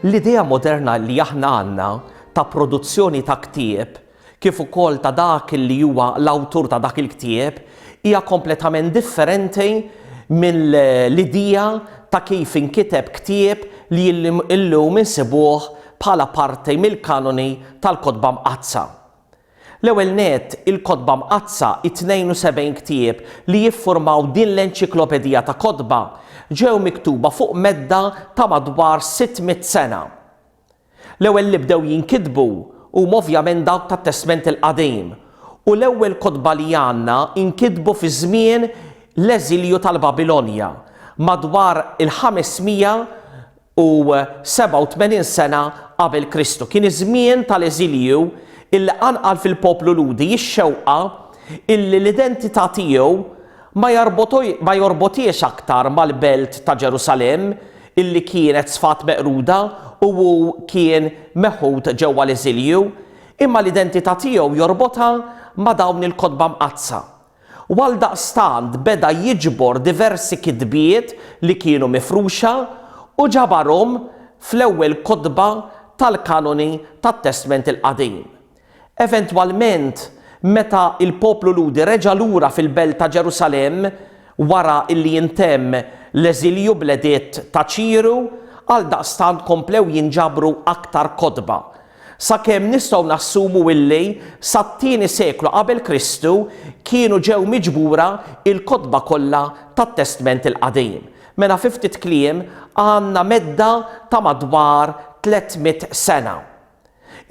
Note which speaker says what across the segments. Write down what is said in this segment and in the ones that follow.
Speaker 1: L-idea moderna li aħna għandna ta' produzzjoni ta' ktieb kif ukoll ta' dak li huwa l-awtur ta' dak il-ktieb, hija kompletament differenti mill-idea ta' kif inkiteb ktieb li llum insibuh bħala parti mill-kanoni tal-Kotba Mqaddsa. L-ewwel nett, il-Kotba Mqaddsa, it-72 ktieb li jiffurmaw din l-enċiklopedija ta' kotba, ġew miktuba fuq medda ta' madwar sitt mitt sena. L-ewwel li bdew jinkitbu huma ovvjament dawk tat-Testment il-Qadim, u l-ewwel kotba li għandna nkitbu fi żmien l-eżilju tal-Babilonja, madwar il-587 sena qabel Kristu. Kien iż-żmien tal-eżilju li qanqal fil-poplu Lhudi x-xewqa li l-identità tiegħu Ma jorbothiex aktar mal-belt ta' Ġerusalemm, illi kienet sfat meqruda u hu kien meħud ġewwa l-eżilju, imma l-identità tiegħu jorbotha ma' dawn il-kotba mqaddsa. U għaldaqstant beda jiġbor diversi kitbiet li kienu mifruxa u ġabarhom fl-ewwel kotba tal-kanoni tat-Testment il-Qadim. Eventwalment, meta l-poplu Lhudi reġa' lura fil-belt ta' Ġerusalemm wara li intemm l-eżilju bl-editt ta' Ċiru, għaldaqstant komplew jinġabru aktar kotba, sakemm nistgħu nassumu li sat-tieni seklu qabel Kristu kienu ġew miġbura l-kotba kollha tat-Testment il-Qadim. Mela fi ftit kliem għandna medda ta' madwar 300 sena.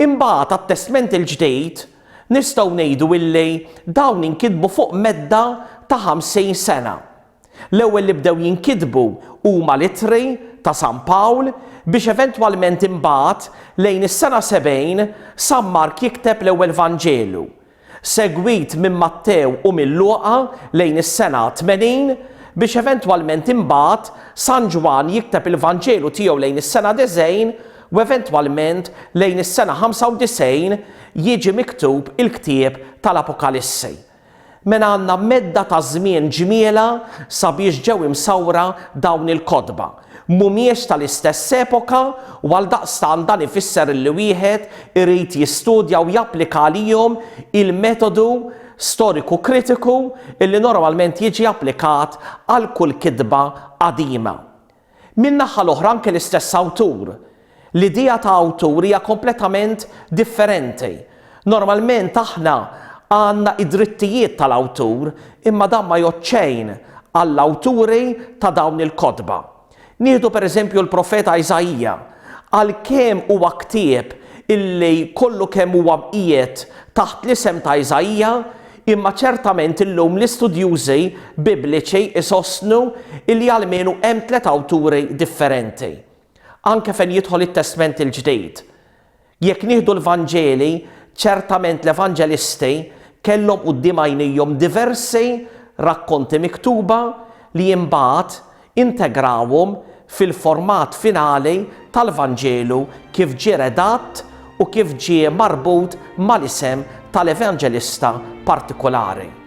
Speaker 1: Imbagħad għat-Testment il-Ġdid nistgħu ngħidu illi dawn inkitbu fuq medda ta' ħamsin sena. L-ewwel li bdew jinkitbu huma l-Ittri ta' San Pawl biex eventwalment imbagħad lejn is-sena 70 San Mark jikteb l-ewwel Vanġelu, segwit minn Mattew u minn Luqa lejn is-sena 80, biex eventwalment imbagħad San Ġwann jikteb il-Vanġelu tiegħu lejn is-sena 90 u eventwalment lejn is-sena 95 jiġi miktub il-ktieb tal-Apokalissi. Mela għandna medda ta' żmien ġmielha sabiex ġew imsawra dawn il-kotba. mhumiex tal-istess epoka u għaldaqstant dan ifisser li wieħed irid jistudja u japplika għalihom il-metodu storiku kritiku li normalment jiġi applikat għal kull kitba qadima. Min-naħa l-oħra anke l-istess awtur, L-idea ta' awtur hija kompletament differenti. Normalment aħna għandna id-drittijiet tal-awtur imma dan ma jgħodd xejn għall-awturi ta' dawn il-kotba. Nieħdu per eżempju l-profeta Isaija, għalkemm huwa ktieb illi kollu kemm huwa mqiegħed taħt l-isem ta' Isaija imma ċertament illum l-istudjużi Bibliċi jsostnu illi almenu hemm tliet awturi differenti. Anke fejn jidħol it-Testment il-Ġdid. Jekk nieħdu l-Vanġeli, ċertament l-Evanġelisti kellhom quddiem għajnejhom diversi rakkonti miktuba li imbagħad integrawhom fil-format finali tal-Vanġelu kif ġie redatt u kif ġie marbut mal-isem tal-Evanġelista partikulari.